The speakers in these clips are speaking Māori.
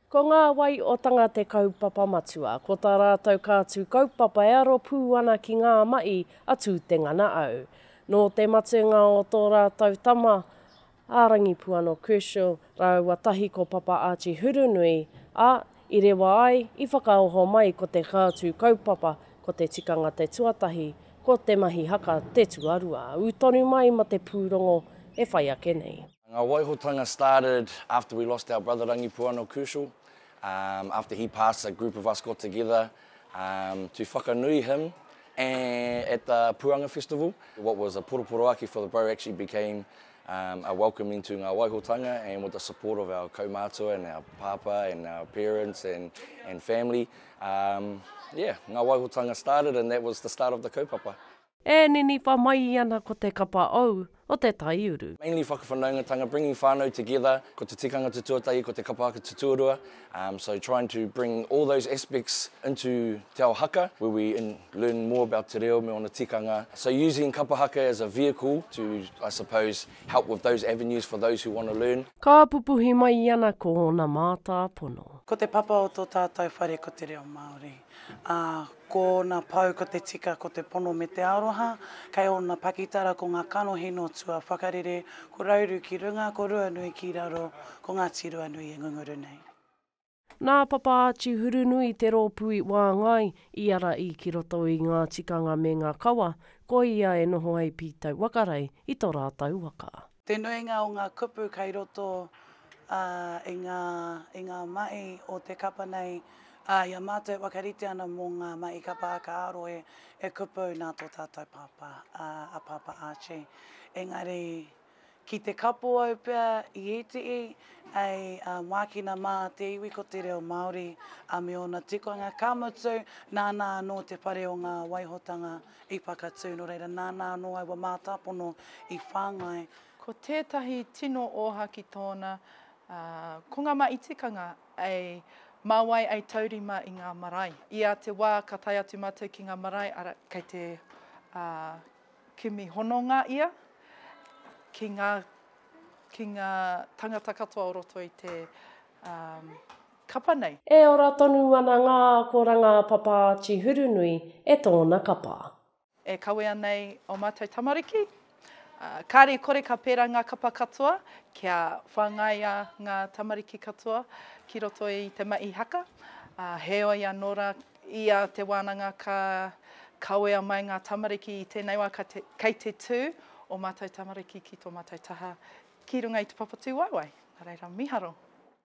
Ko ngā wai o tanga te kaupapa matua, ko tā rātou kātū kaupapa e aro pū ana ki ngā maʻi a Tūtengana au. Nō te matenga o tō rātou tama, a Rangipuano Kershaw rāua tahi ko Papa Archie Hurunui, ā, i rewa ai, i whakaoho mai ko te kātū kaupapa ko te tikanga te tuatahi, ko te mahi haka te tuarua. Ū tonu mai ma te pūrongo e whai ake nei. Ngā waihotanga started after we lost our brother Rangipuano Kershaw, after he passed a group of us got together to whakanui him And at the Puanga Festival, what was a poroporoaki for the boat actually became um, a welcoming to ngā waihotanga and with the support of our kaumātua and our pāpā and our parents and, and family. Um, yeah, ngā waihotanga started and that was the start of the kaupapa. E niniwha mai ana ko te kapa ou, o te taiuru. Mainly whakawhanaungatanga, bringing whānau together, ko te tikanga te tuatahi, ko te kapa haka te tuarua, so trying to bring all those aspects into te ao haka where we learn more about te reo me ōna tikanga, so using kapa haka as a vehicle to I suppose help with those avenues for those who want to learn. Ka pupuhi mai i ana ko ōna mātāpono. Ko te papa o tō tātou whare ko te reo Māori. Ā, ko ōna pou ko te tika, ko te pono me te aroha, kei ōna pakitara ko ngā kanohi nō tua whakarere, ko Rauru ki runga, ko Ruanui ki raro, ko Ngāti Ruanui e ngunguru nei. Nā Papa Archie Hurunui te rōpū i wāngai, i ara i ki roto i ngā tikanga me ngā kawa, ko ia e noho ai Pītau Wakarei i to rātau waka. Te nuinga o ngā kupu kei roto i ngā i ngā mahi o te kapa nei, ā, i a mātou e whakarite ana mō ngā mahi kapa aka aro e e kupu nā tō tātou pāpā, a Pāpā Archie. Engari, ki te kapo au pea i ētehi, hei mākina mā te iwi ko te reo Māori me ōna tikanga, ka mutu, nāna anō te whare o ngā waihotanga I whakatū, nō reira, nāna anō aua mātāpono i whāngai. Ko tētahi tino ōhaki tōna, ā, ko ngā mahi tikanga e mā wai e taurima i ngā marae. I a te wā ka tae atu mātou ki ngā marae, arā, kei te, ā, kimi hononga ia ki ngā, ki ngā tangata katoa o roto i te, ā, kapa nei. E ora tonu ana ngā akoranga a Papa Āti Hurunui e tōna kapa. E kawea nei ō mātou tamariki, kāre i kore ka pērā ngā kapa katoa kia whāngaia ngā tamariki katoa ki roto i te mahi haka. Heoi anō rā, ia te wānanga ka kawea mai ngā tamariki i tēnei wā kei te tū ō mātou tamariki ki tō mātou taha ki runga i te papatū waewae. Nā reira, mīharo.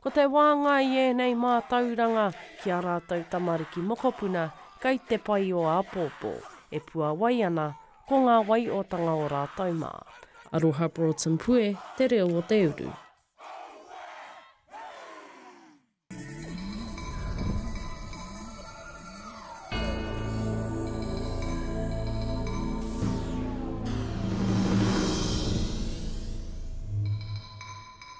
Ko te wānga i ēnei mātauranga ki ā rātou tamariki mokopuna kei te pai o āpōpō, e puawai ana ko ngā waiotanga o rātou mā. Aroha Broughton Pue te reo o te uru.